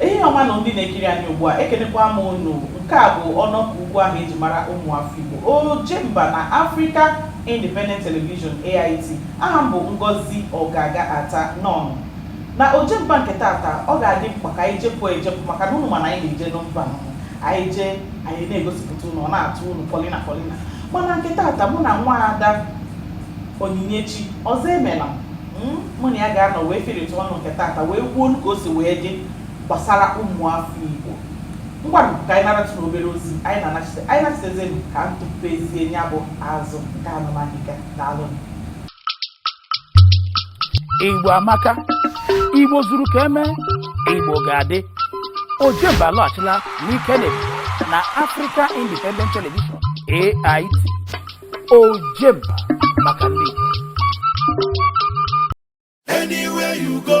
ehihie ọma nụ ndị na-ekiri anyị ugbu a ekenekwa m unu nke a bụ ọnọkọ ugwu ahụ eji mara ụmụ afọ Igbo ojemba na Africa Independent Television AIT aha m bụ Ngozi Ogaga Ata nnọọnụ na ojemba nke tata ọ ga-adị mkpa ka anyị jepụ ejepụ maka na unu ma na anyị na-eje na mba anyị jee anyị na-egosipụta unu ọ na-atọ unu polina polina mana nke tata mụ na nwa ada onyinyechi Ozoemena hmm? mụ na ya ga-anọ wee firịta ọnụ nke tata wee kwuolu ka o si wee dị gbasara ụmụafọ igbo ngwanụ ka anyị naratụ na obere ozi anyị na-anachite anyị nachitezenu ka m tụpezie ya bụ azụ nke anụmanụ ga na alụnụ igbo amaka igbo zuru ka eme igbo ga-adị ojemba alọghachila n'ike na ebube na africa independent television ait ojemba maka ndị igbo Anywhere you go,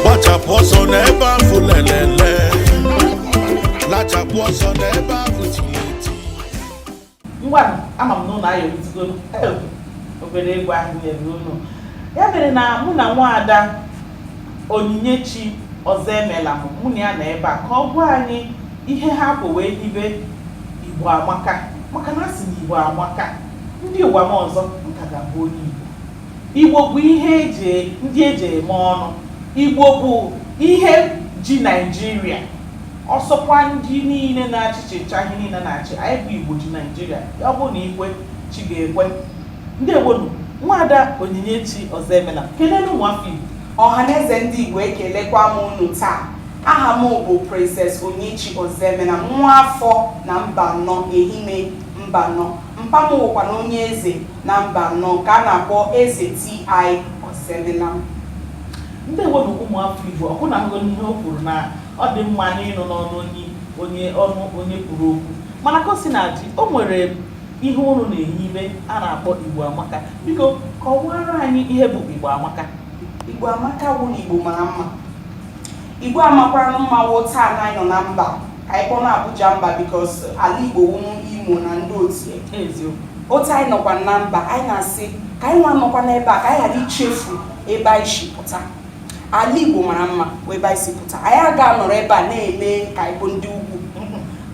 gbachapụ ọsọ n'ebe afụ lelele lachapụ ọsọ n'ebe afụ tiri eti ngwanụ ama m na unu ayọrịtụgo obere egwu ahụ nyere unu ya mere na mụ na nwaada onyinyechi Ozoemena mụ na ya nọ ebe a ka ọ gwa anyị ihe ha bu wee hibe igbo amaka maka na a sị na igbo amaka ndị ụwa m ọzọ m ka ga-abụ onye igbo Igbo bụ ihe eji ndị eji eme ọnụ. Igbo bụ ihe ji Naịjirịa. Ọ sọkwa ndị niile na-achị chịchaa ihe niile na-achị. Anyị bụ Igbo ji Naịjirịa. Ọ bụrụ na i kwe, chi ga-ekwe. Ndewonu. Nwaada Onyinyechi Ozoemena, kelenu ụmụ afọ Igbo. Ọhaneze ndị Igbo ekelekwa m unu taa. Aha m bụ Princess Onyinyechi Ozoemena, nwa afọ na Mbanọ, Ehime Mbanọ. Mpa m wụkwanụ onye eze. na Mbanọ nke a na-akpọ Eze TI Ozoemena. Ndewo nụ ụmụafọ Igbo, ọ bụ na anụgonụ ihe o kwuru na ọ dị mma n'ịnụ n'ọnụ onye onye ọnụ onye kwuru okwu mana ka o sina dị o nwere ihe unu na-ehibe a na-akpọ Igbo Amaka biko kọwara anyị ihe bụ Igbo Amaka Igbo Amaka bụ na Igbo mara mma Igbo amakwaranụ mma wụ taa na anyị nọ na mba ka anyị kpọnụ Abuja mba because ala Igbo wụnụ Imo na ndị otie otu anyị nọkwa na mba anyị na-asị ka anyị nwa nọkwa n'ebe a ka anyị ghara ichefu ebe anyị si pụta ala Igbo mara mma bụ ebe anyị si pụta anyị aga anọrọ ebe a na-eme ka anyị bụ ndị ugwu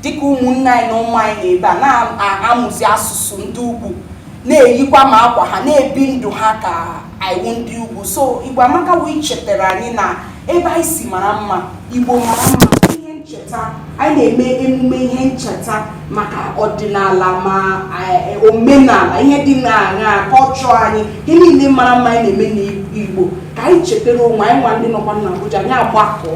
dịka ụmụnne anyị na ụmụ anyị nọ ebe a na-amụzi asụsụ ndị ugwu na-eyikwa ma akwa ha na-ebi ndụ ha ka anyị wụ ndị ugwu so igbo amaka wụ ichetara anyị na ebe anyị si mara mma igbo mara mma ihe ncheta anyị na-eme emume ihe ncheta maka ọdịnala ma eh, omenala ihe dị na culture anyị ihe niile mara mma anyị na-eme n'igbo ka anyị chetara onwe anyị nwa ndị nọkwa na Abuja anyị agbakọ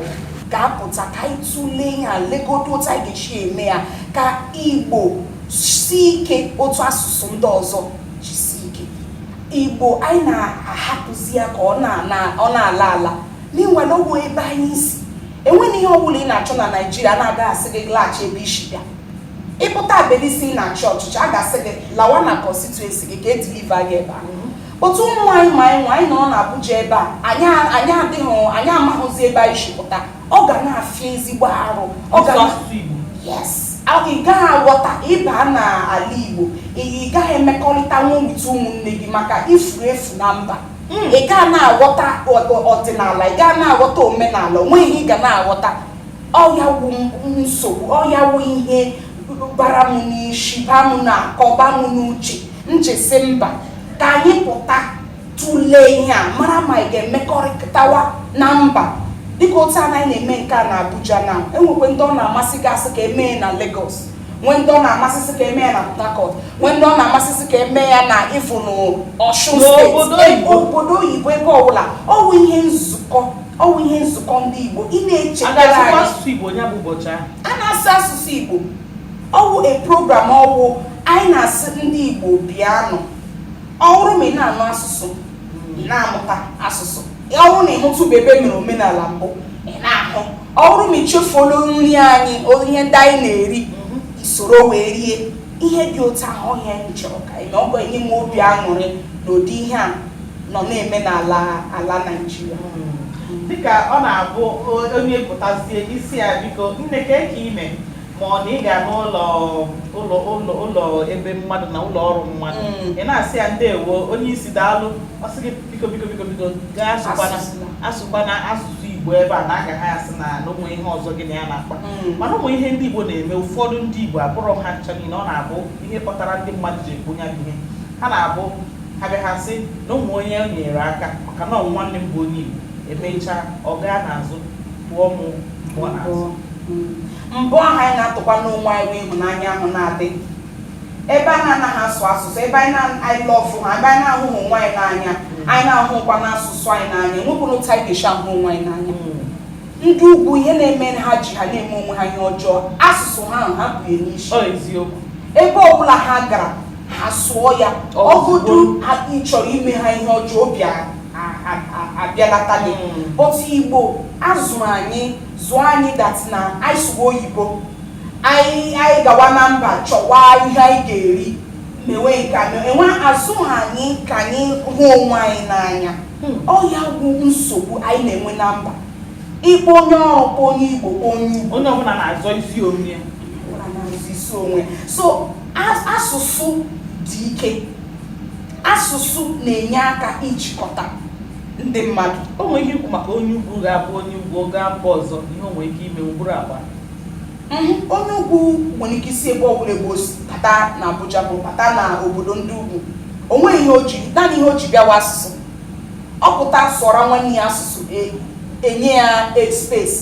ga-apụta ka anyị tụlee ihe a legodo otu anyị ga-esi eme ya ka igbo si ike otu asụsụ ndị ọzọ Igbo anyị na-ahapụzi ya ka ọ na-ala ala n'ihi na ọwụ ebe anyị si enweghị ihe ọbụla ị na-achọ na naijiria na agaghị asị gị laghachi ebe i si bịa ị pụta ebe a sị ị na-achọ ọchịchị a ga-asị gị lawa na constituency gị ka e deliver gị ebe ahụ but ụmụ anyị ma anyị nwa anyị nọ na abuja ebe a anyị adịghị anyị amaghịzi ebe anyị si pụta ọ ga na-afịa ezigbo arụ ọ ga yes ị gaghị aghọta ịba na ala Igbo ị gaghị emekọrịtanwu with ụmụnne gị maka i furu efu na mba hmm. ị gaa na-aghọta ọdịnala ị gaa na-aghọta omenala onweghị ihe ị ga na-aghọta ọ ya wụ nsogbu ọ ya wụ ihe bara m n'isi ba m n'akọ ba m n'uche m ji sị mba ka anyị pụta tụlee ihe a mara ma anyị ga-emekọrịtawa na mba dịka otu a anyị na-eme nke a na Abuja na e nwekwee ndị ọ na-amasị ga-asị ka e mee ya na Lagos nwee ndị ọ na-amasị sị ka e mee ya na Port Harcourt nwee ndị ọ na-amasị sị ka e mee ya na even Osun state obodo oyibo ebe ọbụla ọwụ ihe nzukọ ọwụ ihe nzukọ ndị Igbo ị na-echetara a na-asụ asụsụ Igbo ọwụ a program ọwụ anyị na-asị ndị Igbo bịanụ ọ wụrụ ma ị na-anụ asụsụ ị na-amụta asụsụ ọ wụrụ na ị hụtụbe ebe e mere omenala mbụ ị na-ahụ ọ wụrụ ma i chefuola nri anyị ihe ndị anyị na-eri i soro wee rie ihe dị otu ahụ ọ ihe anyị chọrọ ka anyị ọ ga-enye m obi aṅụrị na ụdị ihe a nọ na-eme na ala Naịjirịa hmm. dịka ọ na-abụ onye pụtazie ị sị ya biko nne kee ka ị mee ma ọ na ị ga n'ụlọ ebe mmadụ na ụlọ ọrụ mmadụ Mm. ị na-asị ya ndewo onye isi daalụ ọ sị gị biko biko biko biko gaa asụkwana Asụsụ. asụkwana asụsụ igbo ebe a na a ga-asị na na o nwe ihe ọzọ gị na ya na-akpa Mm. mana o nwe ihe ndị igbo na-eme ụfọdụ ndị igbo abụrọ ha ncha niile ọ na-abụ ihe kpatara ndị mmadụ ji ekwu ya bụ ihe ha na-abụ ha bịa ha sị na o nwe onye o nyere aka maka na ọ wụ nwanne m bụ onye igbo emechaa ọ gaa n'azụ pụọ mụ mụọ n'azụ Mm. mgbe ahụ anyị na-atụkwa n'onwe anyị bụ ịhụnanya ahụ na-adị ebe a na-anaghị asụ asụsụ ebe anyị na-anyị lọfụ ha ebe anyị na-ahụghị onwe anyị n'anya anyị na-ahụkwanụ asụsụ anyị n'anya enwekwụrụ otu anyị ga-esi ahụ onwe anyị n'anya ndị ugwu ihe na-eme ha ji ha na-eme onwe ha ihe ọjọọ asụsụ ha ahụ ha bu ya n'isi Ọ eziokwu. ebe ọbụla ha gara ha sụọ ya ọ bụdụ ha ị chọrọ ime ha ihe ọjọọ obi a- a- a- a- abịalata gị Mm. but igbo a zụrụ anyị zụọ anyị that na anyị sụwa oyibo anyị anyị gawa na mba chọwa ihe anyị ga-eri mewe nke a mewe enwe a zụha anyị ka anyị hụ onwe anyị n'anya ọ ya bụ nsogbu anyị na-enwe na mba ịkpọ onye ọkpọ onye igbo kpọ onye igbo onye ọbụla na-azọ isi onwe ya ọbụla na-azọ isi onwe so as- asụsụ dị ike asụsụ na-enye aka ijikọta ndị mmadụ o nwere ihe ikwu maka onye ugwu ga-abụ onye ugwu gaa mba ọzọ ihe o nwere ike ime ụbụrụ agba mhm, onye ugwu nwere ike isi ebe ọbụla ebe o si bata na Abuja bụ bata na obodo ndị ugwu o nweghị ihe o ji naanị ihe o ji bịawa asụsụ ọ pụta sụọra nwanne ya asụsụ e, enye ya e, space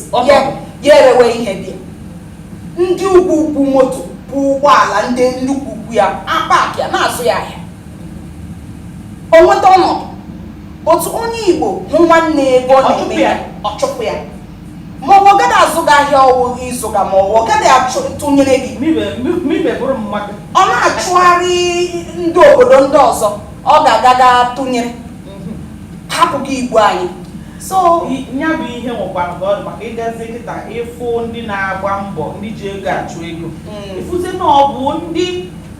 ya erewe ihe dị ndị ukwu ukwu moto bụ ụgbọala ndị nnukwu ukwu ya apakịa na-azụ ya ahịa o nweta ọnọdụ otu onye igbo hụ nwanne ebe ọ na-eme ya ọ chụpụ ya ma ọ gaghị azụ gị ahịa ọ wụ ịzụga ma ọ gaghị atụnyere gị ọ na-achọgharị ndị obodo ndị ọzọ ọ ga-agaga tụnyere mhm. hapụ gị igbo anyị so ya bụ ihe nwekwara ka ọ dị maka ị gazie kịta ị fụ ndị na-agba mbọ ndị ji ego achụ ego mm. ị fụzi na ọ bụ ndị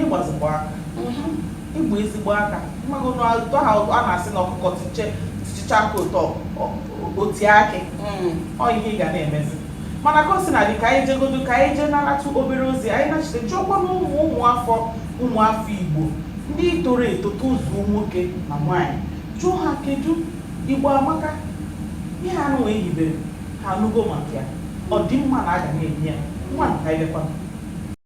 ịgbazikwa aka mhm. ịgba ezigbo aka mmago n'ụtọ ha a na-asị na ọkụkọ tichicha aka ụtọ oti akị mm. ọ ihe ị ga na-emezi mana ka o si na-adị ka anyị jegodo ka anyị jee naratụ obere ozi anyị nachite jụọkwanụ ụmụ ụmụafọ ụmụafọ igbo ndị toro eto tozuo nwoke na nwaanyị jụọ ha kedu igbo amaka ihe anụwa e hibere ha anụgo maka ya ọ dị mma na a ga na-eme ya ngwa nka ilekwa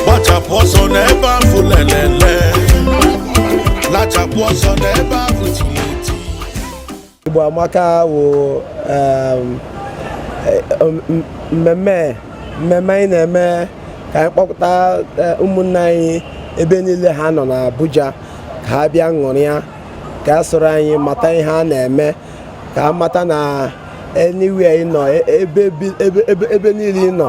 gbachapụ ọsọ n'ebe afụ lelele lachapụ ọsọ n'ebe afụ tiri eti Igbo Amaka wụ um, eh, m- mmemme mmemme anyị na-eme ka anyị kpọpụta eh, ụmụnne anyị ebe niile ha nọ n'Abuja ka ha bịa ṅụrịa ka a soro anyị mata ihe a na-eme ka a mata na anywhere ị nọ e- ebe bi- ebe- ebe- ebe niile ị nọ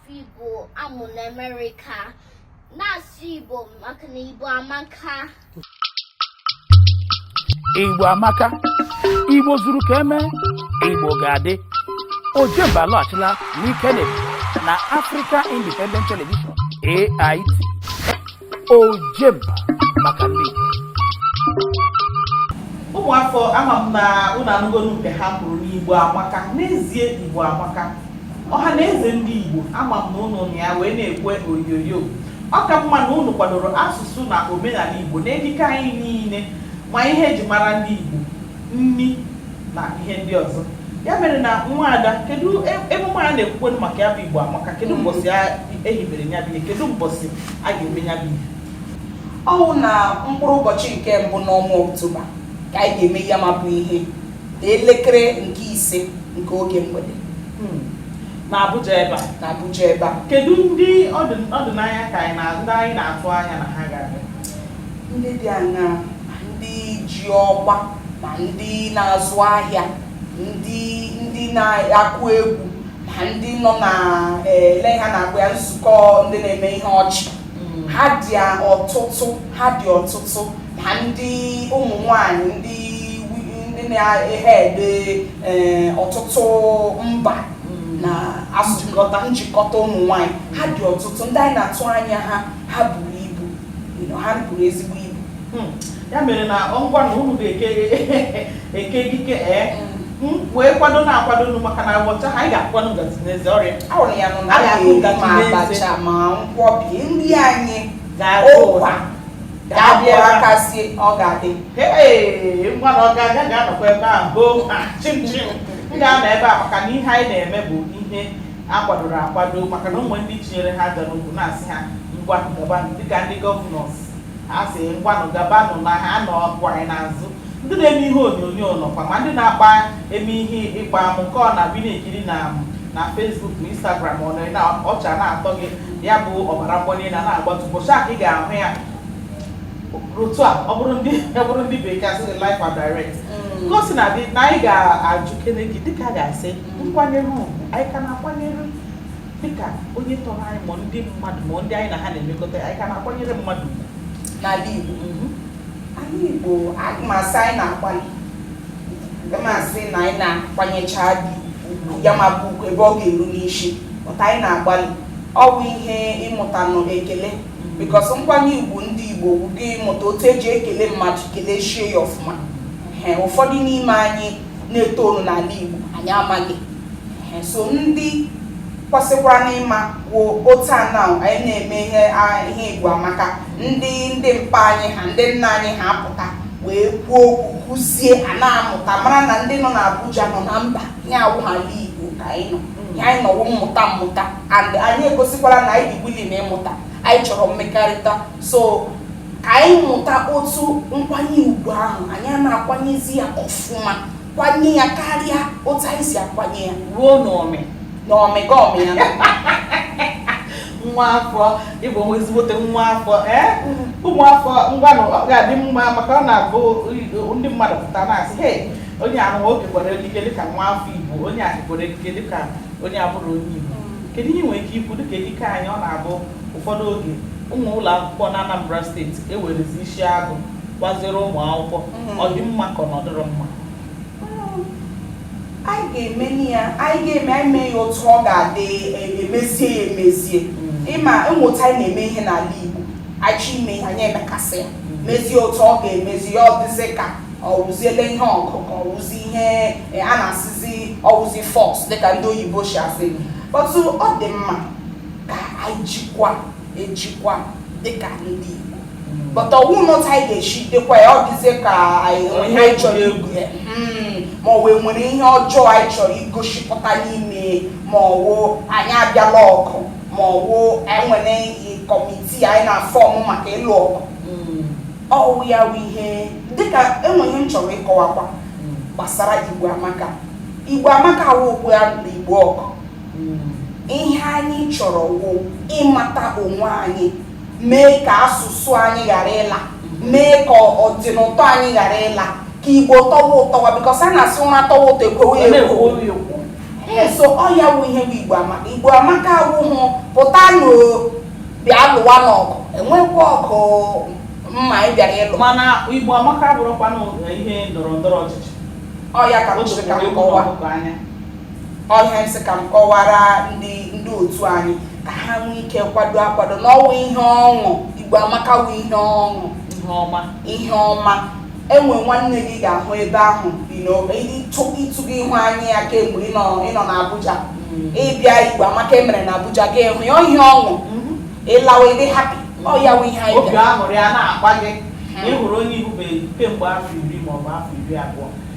Igbo amụ na Amerịka na-asụ Igbo maka na Igbo amaka Igbo amaka Igbo zuru ka eme Igbo ga-adị Ojemba alọghachila n'ike na Africa Independent Television AIT ojemba maka ndị igbo ụmụafọ ama m na ụnụ anụgonu nke ha kwuru n'igbo amaka n'ezie igbo amaka ọha na eze ndị igbo ama m na ụnụ na ya wee n'igwe onyonyo ọ ka mma na ụnụ kwadoro asụsụ na omenala igbo na ejike anyị niile ma ihe eji mara ndị igbo nni na ihe ndị ọzọ ya mere na nwa ada kedu e- emume anyị na-ekwukwanụ maka ya bụ igbo amaka kedu mbọsị ehibere ya bụ ihe kedu mbọsị a ga-eme ya bụ ihe ọ wụ na mkpụrụ ụbọchị nke mbụ n'ọnwa oktoba ka anyị ga-eme ya ma bụ ihe na elekere nke ise nke oge mgbede hmm. na Abuja ebe a na Abuja ebe a kedu ndị ọdịnaya ka anyị na ndị anyị na-atụ anya na ha ga-abịa ndị dị aṅaa ndị ji ọkwa ma ndị na-azụ ahịa ndị ndị na-akụ egwu ma ndị nọ na ele ha na-akpọ ya nzukọ ndị na-eme ihe ọchị mm. ha dị ọtụtụ ha dị ọtụtụ ma ndị ụmụ nwanyị ndị ndị na-ehe ede eh, ọtụtụ mba mm. na asụjikọta njikọta ụmụ nwanyị ha dị ọtụtụ ndị anyị na-atụ anya ha ha buru ibu ha buru ezigbo ibu hmm. ya mere na ngwa na unu ga-eke ekike ee wee kwado na-akwado nu maka na ụbọchị ahụ anyị ga-akwado ngazi n'eze ọrịa ahụrụ ya nụ na a anyị ga-ahụ ma ngazi n'eze abacha ma nkwọbi nri anyị ga-agụ ụkwa ụkwa ga-abụ ga-abịa aka sie ọ ga-adị ee ngwa na ọ ga-aga ga-anọkwa ebe a hoo ha chim chim m ga-anọ ebe a maka na ihe anyị na-eme bụ ihe akwadoro akwado maka na o nwe ndị tinyere ha aja n'ukwu na-asị ha ngwa gabanụ dịka ndị governors A sị, Ngwanụ gabanụ na ha nọkwa anyị n'azụ. Ndị na-eme ihe onyonyo nọkwa, ma ndị na-akpa eme ihe ịkpa amụ nke ọ na-abụ ị na-ekiri na na Facebook ma Instagram ọ nọrị na ọchị a na-atọ gị ya bụ ọbara mgbali elu a na-agbatu ụbọchị a ka ị ga-ahụ ya otu a ọ bụrụ ndị ọ bụrụ ndị bekee asị gị live and direct ka o sina dị na anyị ga-achọ ikene gị dịka a ga-asị nkwanyere ugwu anyị ka na-akwanyere dịka onye tọrọ anyị ma ndị mmadụ ma ndị anyị na ha na-emekọta anyị ka na-akwanyere mmadụ n'ala Igbo mhm. ala Igbo aga m asị anyị na-agbalị aga m asị na anyị na-akwanyecha dị ugwu ya ma bụ ugwu ebe ọ ga-eru n'isi pụta anyị na-agbalị ọ bụ ihe ịmụtanụ ekele mhm. because nkwanye ugwu ndị Igbo bụ gị ịmụta otu eji ekele mmadụ keleshie ya ọfụma ụfọdụ n'ime anyị na-etonụ n'ala Igbo anyị amaghị so ndị kwesịkwara n'ịma wụ otu a na anyị na-eme ihe ihe Igbo Amaka ndị ndị mpa anyị ha ndị nna anyị ha apụta wee kwuo okwu kụzie a na-amụta mara na ndị nọ n'Abuja nọ na mba ya awụha ala Igbo ka anyị nọ ihe anyị nọ wụ mmụta mmụta and anyị egosikwara na anyị dị willing na ịmụta anyị chọrọ mmekọrịta so ka anyị mụta otu nkwanye ugwu ahụ anyị ana-akwanyezi ya ọfụma kwanye ya karịa otu anyị si akwanye ya ruo n'ọmị n'ọmị gị ọmị ya nwa afọ ịbụ nwa ezigbote nwa afọ ee ụmụ afọ ngwanụ ọ ga-adị mma maka ọ na-abụ ndị mmadụ pụta na-asị he onye ahụ nwoke kere ekike dịka nwa afọ Igbo onye ahụ kere ekike dịka onye abụrọ onye Igbo kedu ihe i nwere ike ikwu dịka ekike anyị ọ na-abụ Ụfọdụ oge, uwe ụlọ akwụkwọ n'Anambra steeti e werezi isi agụ kwaziere ụmụ akwụkwọ mm-hmm. ọ dị mma ka ọ na ọ dịrọ mma anyị ga-eme ya anyị ga-eme anyị mee ya otu ọ ga-adị e, emezie ya emezie mm. ị ma e nwe otu anyị na-eme ihe n'ala Igbo a chọọ ime ihe anyị emekasị ya mm. mezie otu ọ ga-emezi ya ọ dịzi ka ọwụziele ihe ọkụ ọkụ ọwụzi ihe e, a na-asịzi ọwụzi force dịka ndị oyibo si asị mm. but ọ dị mma ka anyị jikwa ejikwa dịka ndị Igbo hmm. but ọwụ n'otu anyị ga-eshi jikwa ya ọ dịzie ka anyị ihe anyị chọrọ ikwu ya hmm. ma ọ wụ e nwere ihe ọjọọ anyị chọrọ igosipụta n'ime ma ọwụ anyị abịala ọgụ ma ọwụ e nwere committee anyị na-form maka ịlụ ọgụ hmm. ọwụ ya bụ ihe dịka e nwe ihe m chọrọ ịkọwakwa gbasara Igbo Amaka Igbo Amaka awụ okwu ya na Igbo ọgụ ihe anyị chọrọ wụ ịmata onwe anyị mee ka asụsụ anyị ghara ịla mee ka ịdị n'ụtọ anyị ghara ịla ka Igbo tọwa ụtọwa because a na-asị ụra tọwa ụtọ e kwowe ekwo so ọ ya wụ ihe bụ Igbo Amaka Igbo Amaka awụhụ pụta nụ bịa lụwa n'ọgụ enwekwa ọgụ mmadụ bịara ịlụ mana Igbo Amaka abụhụkwa ihe ndọrọ ndọrọ ọchịchị ọ ya ka m sịrị ka m kọwa ọ ihe m sị ka m kọwara ndị ndị otu anyị ka ha nwee ike kwado akwado na ọ wụ ihe ọṅụ Igbo Amaka wụ ihe ọṅụ ihe ọma ihe ọma e nwe nwanne gị ị ga-ahụ ebe ahụ ịtụ gị ihu anya ya kemgbe ị nọ na Abuja mm. ị bịa Igbo Amaka e mere na Abuja gị ahụ ya ihe ọṅụ mm-hmm. ị lawa ị dị happy ọ ya wụ ihe anyị obi aṅụrị ana-akpa gị mm. ị hụrụ onye ị hụbeghị kemgbe afọ iri maọbụ afọ iri abụọ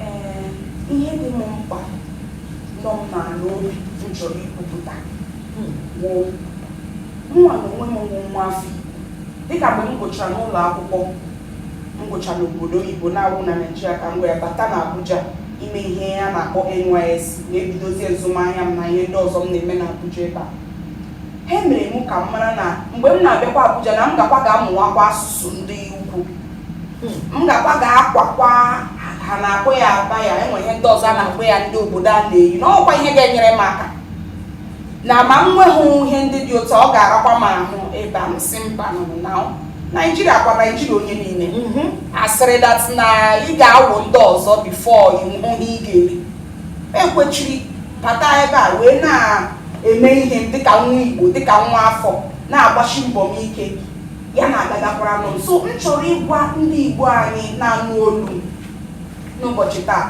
Ee, ihe dị m mkpa nọ m n'ala obi m chọrọ ikwupụta wụ mụnwa na onwe m wụ nwa afọ Igbo. Dịka mgbe m gụchara n'ụlọ akwụkwọ m gụchara n'obodo oyibo na-awụ na Naịjirịa ka m wee bata na Abuja ime ihe a na-akpọ NYSC na-ebidozie azụmahịa m na ihe ndị ọzọ m na-eme na Abuja ebe a ha mere m ka m mara na mgbe m na-abịakwa Abuja na m gakwa ga-amụwakwa asụsụ ndị ugwu m gakwa ga-akwakwa a na-akpọ ya abaya enwe ihe ndị ọzọ a na-akpọ ya ndị obodo a na-eyi na ọkwa ihe ga-enyere m aka na ma m nweghị ihe ndị dị otu ọ ga-arakwa m ahụ ebe a m sị mba na naijiria kwa naijiria onye niile mhm. asịrị that na ị ga-awụ ndị ọzọ before ịhụ ihe ị ga-eri ekwechiri bata ebe a wee na-eme ihe dịka nwa igbo dịka nwa afọ na-agbashi mbọ m ike ya na-agagakwara nụ m so m chọrọ ịgwa ndị Igbo anyị na-anụ olu n'ụbọchị taa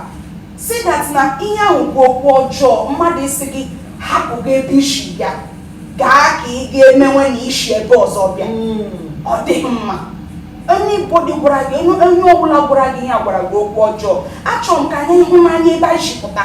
sị that na ihe ahụ bụ okwu ọjọọ mmadụ ịsị gị hapụ gị ebe i si bịa gaa ka ị ga-emewe na i si ebe ọzọ bịa hmm. ọ dịghị mma anybody gwara gị onye ọbụla gwara gị ihe a gwara gị okwu ọjọọ achọrọ m ka anyị hụ n'anya ebe anyị si pụta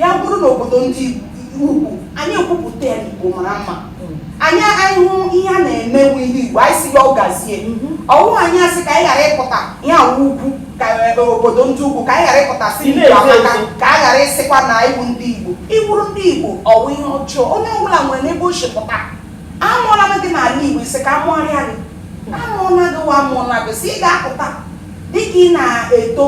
ya bụrụ na obodo ndị ugwu anyị ekwupụta ya igbo mara mma anyị anyị hụ ihe a na-emenwu ihe igbo anyị sị ya ọ gazie ọwụ anyị asị ka anyị ghara ịpụta ihe a wụ ugwu ka e, obodo ndị ugwu ka anyị ghara ịpụta sị Igbo ndị na-ezo amaka ezo. ka a ghara ịsịkwa na ịwụ ndị igbo ịwụrụ ndị igbo ọwụ ihe ọjọọ onye ọbụla nwere n'ebe o si pụta amụọla m gị n'ala igbo ị sị ka amụọrịa gị amụọla gị wa amụọla gị si ị ga-apụta dịka ị na-eto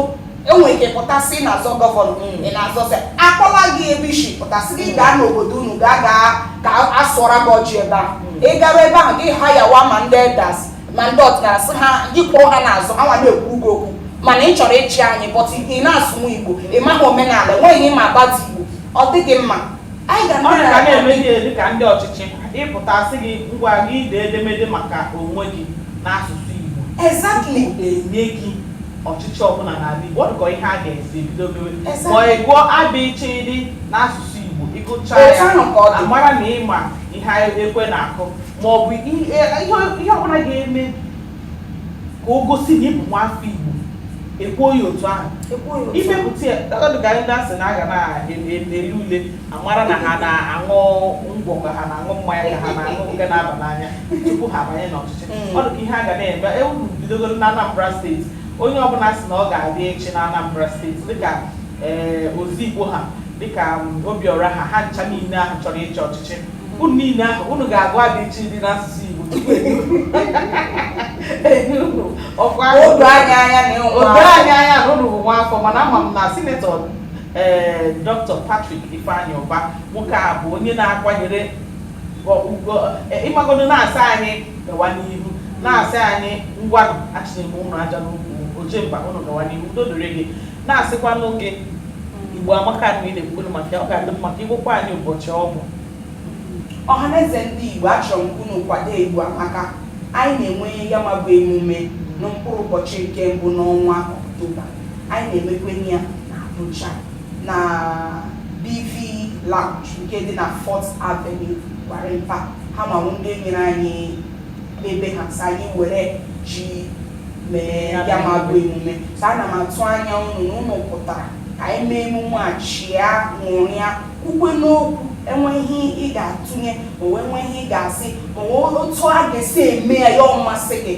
enwere ike pụta sị ị na-azọ governor mm. ị na-azọsị akpọla gị ebe i si pụta sị gị gaa n'obodo unu gaa gaa ka a sụọra gị ọjị ebe ahụ mm. ị gara ebe ahụ gị hayawa ma ndị elders ma ndị ọdịnala sị ha gị kwụrụ ha n'azụ ha nwa na-ekwu gị okwu mana ị chọrọ ịchị anyị but ị na-asụnwu igbo ị maghị omenala enweghị ịma about igbo ọ dịghị mma anyị ga na-eme ihe dị ka ndị ọchịchị ị pụta sị gị ngwa gị ide edemede maka onwe gị n'asụsụ igbo exactly enye gị ọchịchị ọbụla n'ala Igbo ọ dịka ihe a ga-esi ebido mewe ma ị gụọ abịchịdị n'asụsụ Igbo ịgụcha ya amara na ịma ihe ekwe na-akụ ma ọ bụ ihe ọbụla ga-eme ka o gosi na ịbụ nwafọ Igbo ekwuo ya otu ahụ imepụta ya dịka ndị asị na aga na-eme ule amara na ha na-aṅụ ngwọ ka ha na-aṅụ mmanya ka ha na-aṅụ nke na-aba n'anya tupu ha abanye n'ọchịchị hmm. ọ dị ka ihe a ga na-eme ewu bidogoro na Anambra steeti onye ọbụla si na ọ ga-abịa ịchị na Anambra steeti dịka ee eh, Ozigbo ha dịka mm, obiọra ha ha ncha niile ahụ chọrọ ịchị ọchịchị unu niile ahụ unu ga-agụ abịchịdị n'asụsụ igbo o doo anyị anya na unu bụ nwa afọ mana ama m na sinetọ ee Dr. Patrick Ifeanyi Ụba nwoke a bụ onye na-akwanyere ugwu e, ịmagodo na-asị anyị gawa n'ihu na-asị anyị ngwanụ achịnyere m unu aja n'ụkwụ Ojemba unu gawa n'ihu udo dịrị gị na-asịkwanụ gị igbo amaka na ị na-ekwuru maka ya ọ ga-adị mma ka ị gwakwa anyị ụbọchị ọ bụ ọhaneze ndị igbo achọrọ m unu kwado igbo amaka anyị na-enwe ya ma bụ emume na mkpụrụ ụbọchị nke mbụ n'ọnwa ọktoba Anyị na-emekwenye ya na Abuja na BV Lounge nke dị na Fourth Avenue Gwarimpa ha ma bụ ndị nyere anyị ebe ha sị anyị were ji mee ya ma bụ emume so ana m atụ anya unu na unu pụtara ka anyị mee emume a chịa ṅụrịa kwukwe n'okwu e nwee ihe ị ga-atụnye o nwee e nwee ihe ị ga-asị o nwee otu a ga-esi eme ya ya amasị gị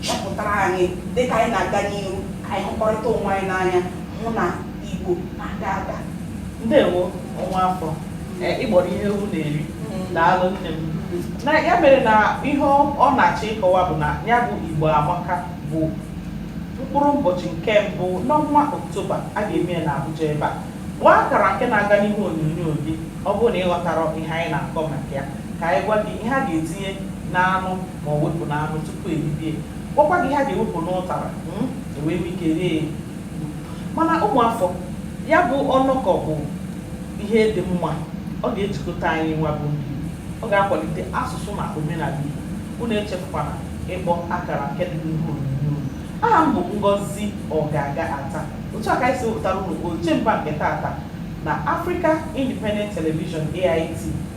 chọpụtara anyị dịka anyị na-aga n'ihu ka anyị hụkọrịta onwe anyị n'anya hụ na Igbo na-aga aga ndewo o nwa afọ ị gbọrọ ihe ewu na-eri daalụ nne m na ya mere na ihe ọ na-achọ ịkọwa bụ na ya bụ Igbo Amaka bụ mkpụrụ ụbọchị nke mbụ n'ọnwa Oktoba a ga-eme ya n'Abuja ebe a kpọọ akara nke na-aga n'ihu onyonyo gị ọ bụrụ na ị ghọtara ihe anyị na-akọ maka ya ka anyị gwa gị ihe a ga-etinye n'anụ ma ọ wepụ n'anụ tupu eribie gwakwa gị ihe a ga-ewepụ n'ụtara hmm, ewee nwee ike rie mana ụmụafọ ya bụ ọnọkọ bụ ihe dị mma ọ ga-ejikọta anyị nwa bụ ndị Igbo ọ ga-akwalite asụsụ na omenala Igbo unu echefukwana ịkpọ akara nke dị n'ihu onyonyo aha m bụ Ngozi Ogaga Ata otu a ka anyị si wepụtara unu Ojemba nke tata na Africa Independent Television AIT